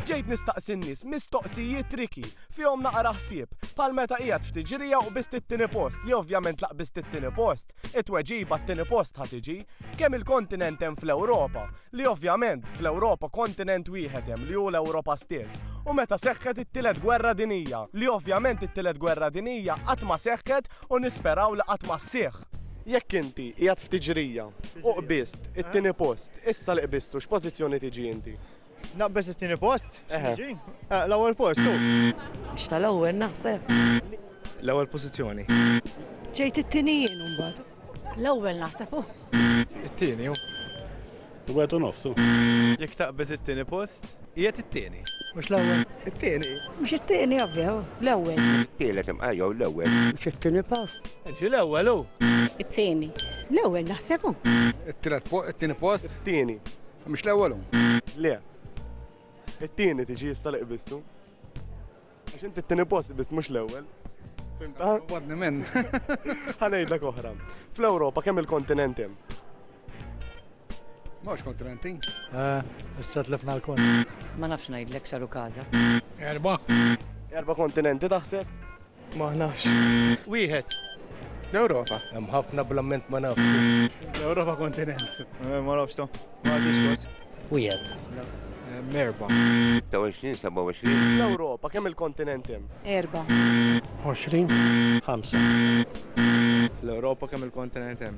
Bdejt nistaqsi n-nies mistoqsijiet tricky, fihom naqra ħsieb, bħal meta qiegħed f'tiġrija u qbiżt it-tieni post li ovvjament la qbiżt it-tieni post, it-tweġiba t-tieni post ħa tiġi. Kemm-il kontinent hemm fl-Ewropa? Li ovvjament, fl-Ewropa kontinent wieħed hemm li hu l-Ewropa stess. U meta seħħet it-Tielet Gwerra Dinjija? Li ovvjament it-Tielet Gwerra Dinjija qatt ma seħħet u nisperaw li qatt ma sseħħ. Jekk inti qiegħed f'tiġrija u qbiżt it-tieni post, issa li qbiżtu x'pożizzjoni tiġi inti? Naqbeż it-tieni post? X'niġi? L-ewwel post hu. X'ta l-ewwel naħseb? L-ewwel pożizzjoni. Ġejt it-tieni jien imbagħad. L-ewwel naħseb hu. It-tieni hu. Wieħed u nofsu. Jekk taqbeż it-tieni post, qiegħed it-tieni. Mhux l-ewwel. It-tieni. Mhux it-tieni ovvja, l-ewwel. Tielet imqa jew l-ewwel. Mhux it-tieni post. Ġi l-ewwel hu. It-tieni. L-ewwel naħseb hu. It-tielet post, it-tieni post. It-tieni. Mhux l-ewwel hu. Le. It-tieni tiġi issa li qbistu. Għax inti t-tieni post biss mhux l-ewwel. Fimta? Wadni minn. Ħanejdlek oħra. Fl-Ewropa kemm il-kontinent hemm? Mhux kontinenti. Eh, issa tlifna l-kont. Ma nafx ngħidlek xaru każa. Erba. Erba kontinenti taħseb? Ma nafx. Wieħed. L-Ewropa. Hemm ħafna blamment ma nafx. L-Ewropa kontinent. Eh, ma nafx ta. Ma nafx. Wieħed. Eh, merba. 26, 27. L-Ewropa, kemm il-kontinent hemm? Erba. 20. 5. L-Ewropa kemm il-kontinent hemm?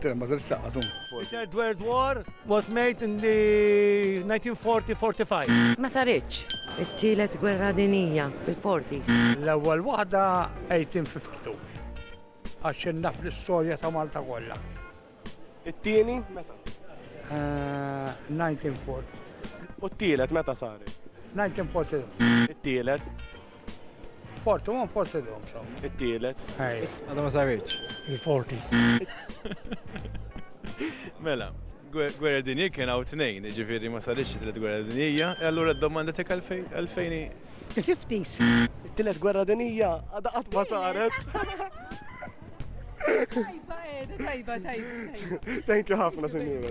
Tira ma żelx laqqa żum. The Third World War was made in the 1940-45. Ma saritx. It-tielet gwerra dinija fil-40s. L-ewwel waħda 1852. Għax naf l-istorja ta' Malta kollha. It-tieni meta? 1940. U t-tielet meta saret? 1940. It-tielet? Forti, ma forsi l-lum xom. It-tielet. Ej. Għadha ma sarriċ. Il-fortis. Mela, gwerra dinji kien għaw t-nejn, ġifiri ma sarriċ it-tielet gwerra dinjija, e allura d-domanda tek għalfejni. Il-fiftis. It-tielet gwerra dinjija, għadha qatt ma saret. Tajba, tajba, tajba. Thank you ħafna, senjura.